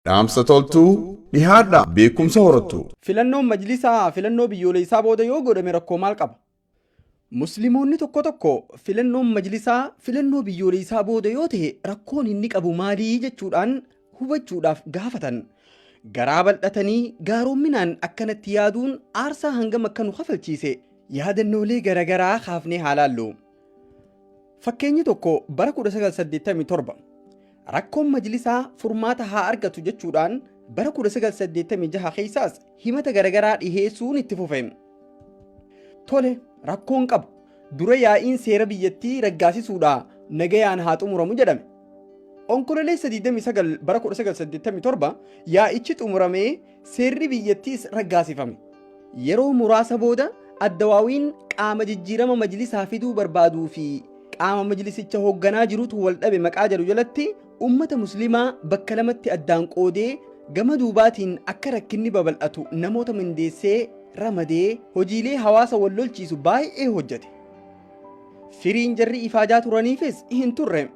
Dhaamsa toltuu dhihaadhaa beekumsa horattuu. Filannoon Majlisaa filannoo biyyooleessaa booda yoo godhame rakkoo maal qaba? Muslimoonni tokko tokko filannoon Majlisaa filannoo biyyooleessaa booda yoo tahe rakkoon inni qabu maali jechuudhaan hubachuudhaaf gaafatan. Garaa bal'atanii gaaromminaan akkanatti yaaduun aarsaa hangam akka nu kafalchiise yaadannoolee garagaraa kaafnee haa laallu. Fakkeenyi tokko bara 1987 rakkoon majlisaa furmaata haa argatu jechuudhaan bara 1986 keessaas himata garagaraa dhiheessuun itti fufe. Tole rakkoon qabu dura yaa'iin seera biyyattii raggaasisuudha nagayaan haa xumuramu jedhame. Onkololeessa 29 bara 1987 yaa'ichi xumuramee Seerri biyyattiis raggaasifame. Yeroo muraasa booda Addawaawiin qaama jijjiirama majlisaa fiduu barbaaduu fi qaama majlisicha hoogganaa jirutu wal dhabe maqaa jedhu jalatti ummata muslimaa bakka lamatti addaan qoodee gama duubaatiin akka rakkinni babal'atu namoota mindeessee ramadee hojiilee hawaasa wal lolchiisu baay'ee hojjete. Firiin jarri ifaajaa turaniifis hin turre.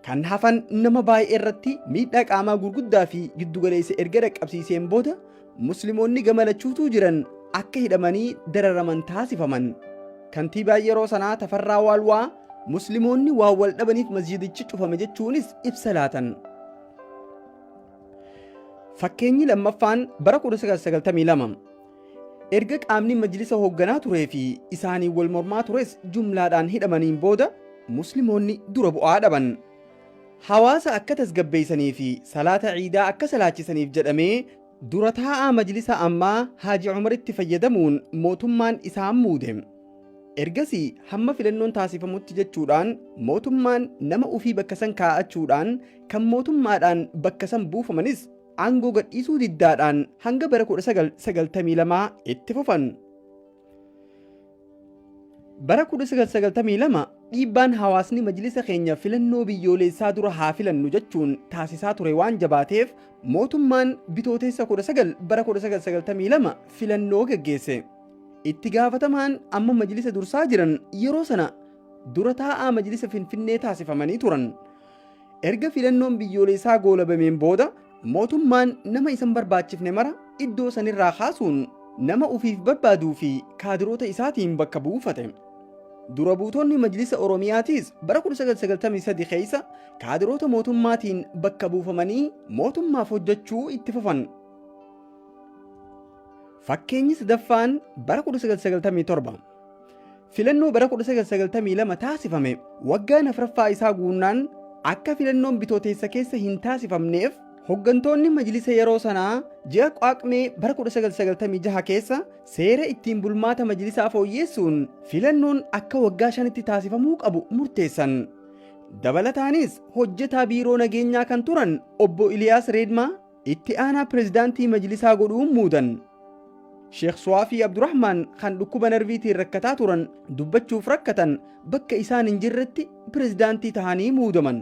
Kan hafan nama baay'ee irratti miidhaa qaamaa gurguddaa fi giddugaleessa erga dhaqqabsiiseen booda Muslimoonni gama lachuutuu jiran akka hidhamanii dararaman taasifaman. Kantiibaan yeroo sanaa Tafarraa Waalwaa Muslimoonni waan wal dhabaniif masjiidichi cufame jechuunis ibsa laatan. Fakkeenyi lammaffaan bara 1992 Erga qaamni majlisa hoogganaa turee fi isaaniin wal mormaa tures jumlaadhaan hidhamaniin booda Muslimoonni dura bu'aa dhaban. Hawaasa akka tasgabbeessanii fi salaata Iidaa akka salaachisaniif jedhamee dura taa'aa majlisa ammaa Haaji Umaritti fayyadamuun mootummaan isaan muude. Ergasii hamma filannoon taasifamutti jechuudhaan mootummaan nama ofii bakka san kaa'achuudhaan kan mootummaadhaan bakka san buufamanis aangoo gadhiisuu diddaadhaan hanga bara 1992 itti fufan. Bara 1992 dhiibbaan hawaasni majlisa keenya filannoo biyyooleessaa dura haa filannu jechuun taasisaa ture waan jabaateef mootummaan bitooteessa 19 bara 1992 filannoo geggeesse. Itti gaafatamaan amma majlisa dursaa jiran yeroo sana dura taa'aa majlisa Finfinnee taasifamanii turan. Erga filannoon biyyooleessaa goolabameen booda mootummaan nama isan barbaachifne mara iddoo sanirraa kaasuun nama ufiif barbaaduu fi kaadiroota isaatiin bakka buufate. Dura buutonni Majlisa Oromiyaatiis bara 1993 keessa kaadiroota mootummaatiin bakka buufamanii mootummaaf hojjechuu itti fufan. Fakkeenyi sadaffaan bara 1997 Filannoo bara 1992 taasifame waggaan afraffaa isaa guunnaan akka filannoon bitooteessa keessa hin taasifamneef hoggantoonni majlisa yeroo sanaa ji'a Qaaqmee bara 1996 keessa seera ittiin bulmaata majlisaa fooyyeessuun filannoon akka waggaa shanitti taasifamuu qabu murteessan. Dabalataanis hojjetaa biiroo nageenyaa kan turan obbo Iliyaas Reedmaa Itti aanaa pirezidaantii majlisaa godhuun muudan. Sheekh Suwaafii Abdurahmaan kan dhukkuba narviitiin rakkataa turan dubbachuuf rakkatan bakka isaan hin jirretti pirezidaantii tahanii muudaman.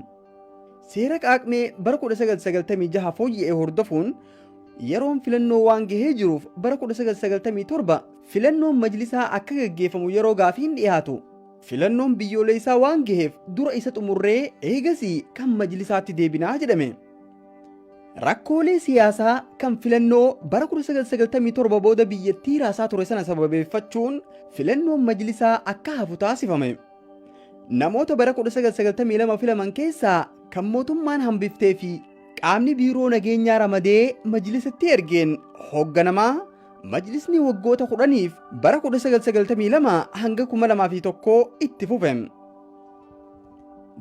Seera qaaqmee bara 1996 fooyya'e hordofuun yeroon filannoo waan gahee jiruuf bara 1997 filannoon majlisaa akka gaggeeffamu yeroo gaafiin dhiyaatu filannoon biyyooleessaa waan gaheef dura isa xumurree eegasii kan majlisaatti deebinaa jedhame. Rakkoolee siyaasaa kan filannoo bara 1997 booda biyyattii raasaa ture sana sababeeffachuun filannoon majlisaa akka hafu taasifame. Namoota bara 1992 filaman keessaa kan mootummaan hambiftee fi qaamni biiroo nageenyaa ramadee majlisatti ergeen hoogganamaa majlisni waggoota kudhaniif bara 1992 hanga 2001 itti fufe.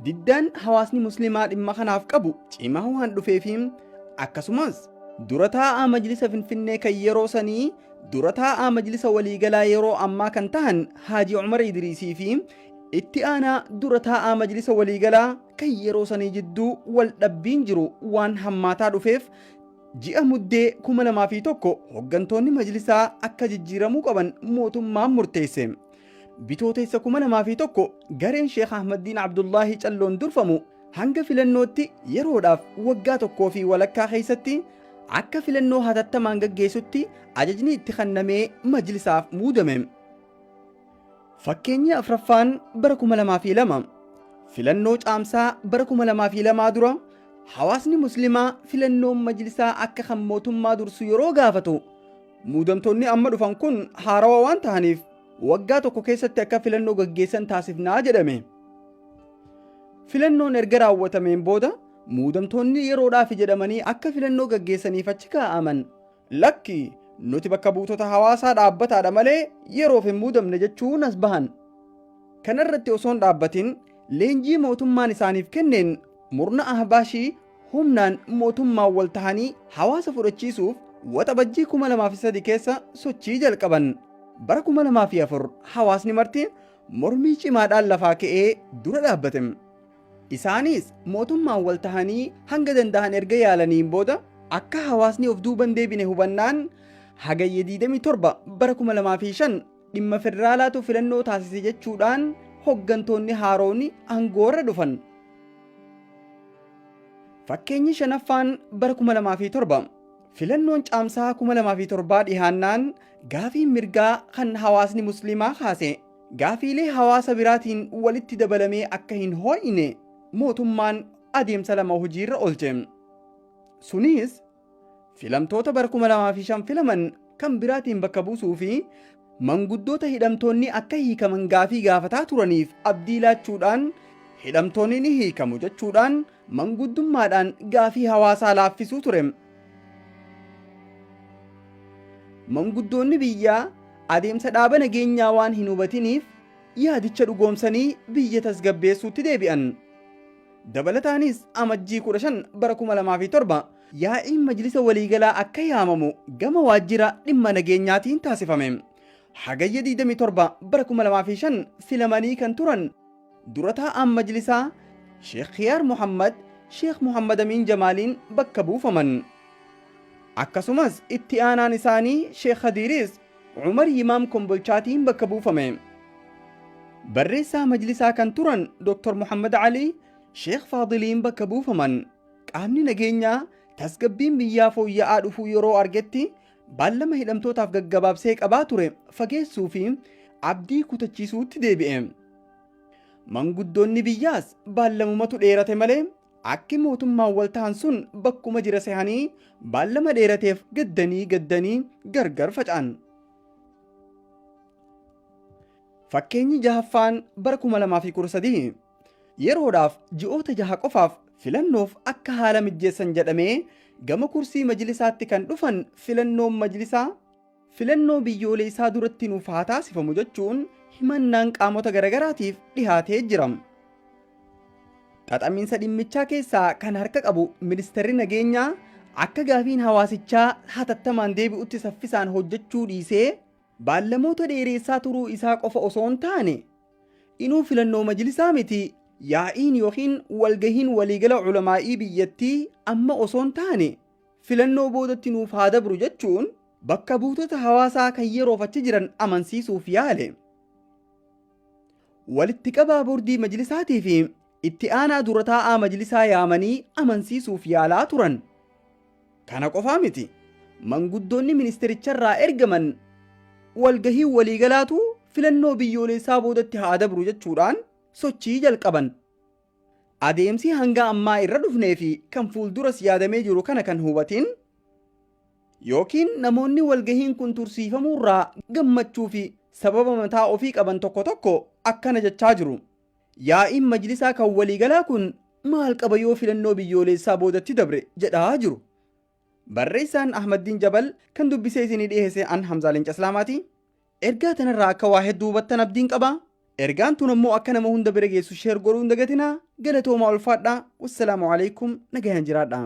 Diddaan hawaasni musliimaa dhimma kanaaf qabu cimaa waan dhufeefi akkasumas dura taa'aa majlisa Finfinnee kan yeroo sanii dura taa'aa majlisa waliigalaa yeroo ammaa kan tahan Haaji Umar Idriisii fi itti aanaa dura taa'aa majlisa waliigalaa kan yeroo sanii jidduu wal dhabbiin jiru waan hammaataa dhufeef ji'a muddee 2001 hoggantoonni majlisaa akka jijjiiramuu qaban mootummaan murteesse. Bitootessa 2001 gareen Sheekh Ahmaddiin Abdullaahii Calloon durfamu hanga filannootti yeroodhaaf waggaa tokkoo fi walakkaa keessatti akka filannoo hatattamaan gaggeessutti ajajni itti kennamee majlisaaf muudame. Fakkeenyi afraffaan bara 2002 filannoo caamsaa bara 2002 dura hawaasni muslimaa filannoon majlisaa akka kan mootummaa dursu yeroo gaafatu Muudamtoonni amma dhufan kun haarawa waan tahaniif waggaa tokko keessatti akka filannoo gaggeessan taasifnaa jedhame. Filannoon erga raawwatameen booda muudamtoonni yeroodhaafi jedhamanii akka filannoo gaggeessaniif achi kaa'aman lakki nuti bakka buutota hawaasaa dhaabbataadha malee yeroof hin muudamne jechuun as bahan. Kanarratti osoon dhaabbatin leenjii mootummaan isaaniif kenneen murna ahbaashii humnaan mootummaan wal tahanii hawaasa fudhachiisuuf Waxabajjii 2003 keessa sochii jalqaban. Bara 2004 hawaasni marti mormii cimaadhaan lafaa ka'ee dura dhaabbate. Isaanis mootummaan wal tahanii hanga danda'an erga yaalaniin booda akka hawaasni of duuban deebine hubannaan Hagayya 27 bara 2005 Dhimma federaalaatu filannoo taasise jechuudhaan hoggantoonni haarooni aangoo irra dhufan. Fakkeenyi shanaffaan bara 2007 filannoon caamsaa 2007 dhihaannaan gaafiin mirgaa kan hawaasni musliimaa kaase gaafiilee hawaasa biraatiin walitti dabalamee akka hin hoo'ine mootummaan adeemsa lama hojiirra oolche. Sunis filamtoota bara 2005 filaman kan biraatiin bakka buusuu fi manguddoota hidhamtoonni akka hiikaman gaafii gaafataa turaniif abdii laachuudhaan hidhamtoonni ni hiikamu jechuudhaan manguddummaadhaan gaafii hawaasaa laaffisuu ture. Manguddoonni biyyaa adeemsa dhaaba nageenyaa waan hin hubatiniif yaadicha dhugoomsanii biyya tasgabbeessuutti deebi'an. Dabalataanis Amajjii 15 bara 2007 yaa'iin Majlisa Waliigalaa akka yaamamu gama Waajjira Dhimma Nageenyaatiin taasifame. Hagayya 27 bara 2005 filamanii kan turan Dura taa'aan Majlisaa Sheekh Kiyaar Muhammad Sheekh Muhammad Amiin Jamaaliin bakka buufaman. Akkasumas itti aanaan isaanii Sheekh Khadiiriis Umar Yimaam Kombolchaatiin bakka buufame. Barreessaa majlisaa kan turan Dr. Muhammad Alii Sheekh Faadiliin bakka buufaman. Qaamni nageenyaa tasgabbiin biyyaa fooyya'aa dhufuu yeroo argetti baallama hidhamtootaaf gaggabaabsee qabaa ture fageessuu fi abdii kutachiisuutti deebi'e. Manguddoonni biyyaas baallamumatu dheerate malee Akki mootummaan wal tahan sun bakkuma jira sehanii baallama dheerateef gaddanii gaddanii gargar faca'an. Fakkeenyi jahaffaan bara 2013 yeroodhaaf ji'oota jaha qofaaf filannoof akka haala mijjeessan jedhamee gama kursii majlisaatti kan dhufan filannoon majlisaa filannoo biyyooleessaa duratti nuuf haa taasifamu jechuun himannaan qaamota garagaraatiif dhihaatee jira. Xaxamiinsa dhimmichaa keessaa kan harka qabu ministeerri nageenyaa akka gaafiin hawaasichaa hatattamaan deebi'utti saffisaan hojjechuu dhiisee baallamoota dheereessaa turuu isaa qofa osoo hin taane inuu filannoo majlisaa miti yaa'iin yookiin walgahiin waliigala ulamaa'ii biyyattii amma osoo hin taane filannoo boodatti nuuf haa dabru jechuun bakka buutota hawaasaa kan yeroof achi jiran amansiisuuf yaale. Walitti qabaa bordii majlisaatii fi itti aanaa dura taa'aa majlisaa yaamanii amansiisuuf yaalaa turan. Kana qofaa miti. Manguddoonni ministeericharraa ergaman walgahii waliigalaatu filannoo biyyooleessaa boodatti haa dabru jechuudhaan sochii jalqaban. Adeemsi hanga ammaa irra dhufnee fi kan fuulduras yaadamee jiru kana kan hubatin ykn namoonni walgahiin kun tursiifamuu irraa gammachuu fi sababa mataa ofii qaban tokko tokko akkana jechaa jiru, Yaa'iin Majlisaa kan waliigalaa kun maal qaba yoo filannoo biyyooleessaa boodatti dabre jedha jiru. Barreessaan Ahmaddiin Jabal kan dubbisee isinii dhiheesse an Hamzaa Leenca Islaamaati. Ergaa tanarraa akka waa hedduu hubattan abdiin qaba. Ergaan tun ammoo akka nama hunda bira geessu share godhuu hin dagatinaa. Galatoomaa ulfaadhaa. Wassalaamu alaikum. Nagayaan jiraadhaa.